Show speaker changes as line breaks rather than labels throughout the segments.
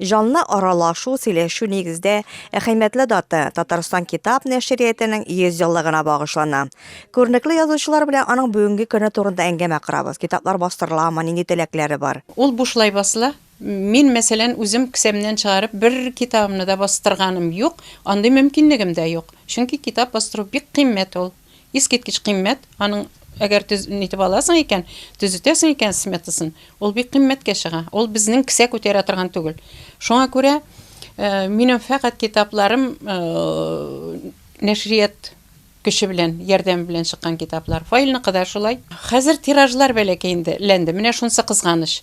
Җанлы аралашу, сөйләшү нигездә әһәймәтле дата, Татарстан китап нәшриятенең 100 еллыгына багышлана. Күренекле язучылар белән аның бүгенге көне турында әңгәмә корабыз, китаплар бастырыламы, нинди теләкләре бар. Ул бушлай басыла. Мин, мәсәлән, үзем кесәмнән чыгарып бер китабымны да бастырганым юк, андый мөмкинлегем дә юк. Чөнки китап бастыру бик кыйммәт ул. Искиткеч кыйммәт, аның әгәр төз итеп аласың икән, төзетәсең икән сметасын, ул бик кыйммәткә чыга. Ул безнең кесә күтәрә торган түгел. Шуңа күрә минем фәкать китапларым нәшрият көче белән, ярдәме белән чыккан китаплар. Фаилныкы да шулай. Хәзер тиражлар бәләкәй инде ләнде, менә шунысы кызганыч.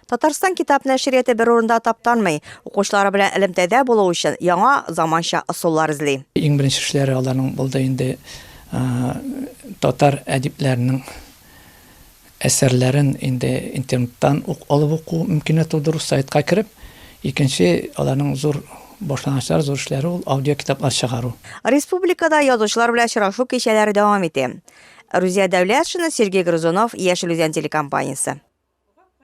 Татарстан китап нәшрияте бер урында таптанмый, укучылары белән элемтәдә булу өчен яңа, заманча ысуллар эзли. Иң беренче эшләре аларның булды инде татар әдипләренең әсәрләрен инде интернеттан ук алып уку мөмкинлеге тудыру, сайтка кереп. Икенче аларның зур башлангычлары, зур эшләре ул аудиокитаплар чыгару. Республикада язучылар белән очрашу кичәләре дәвам итә. Рузия Дәүләтшина, Сергей Грызунов, Яшел Үзән телекомпаниясе.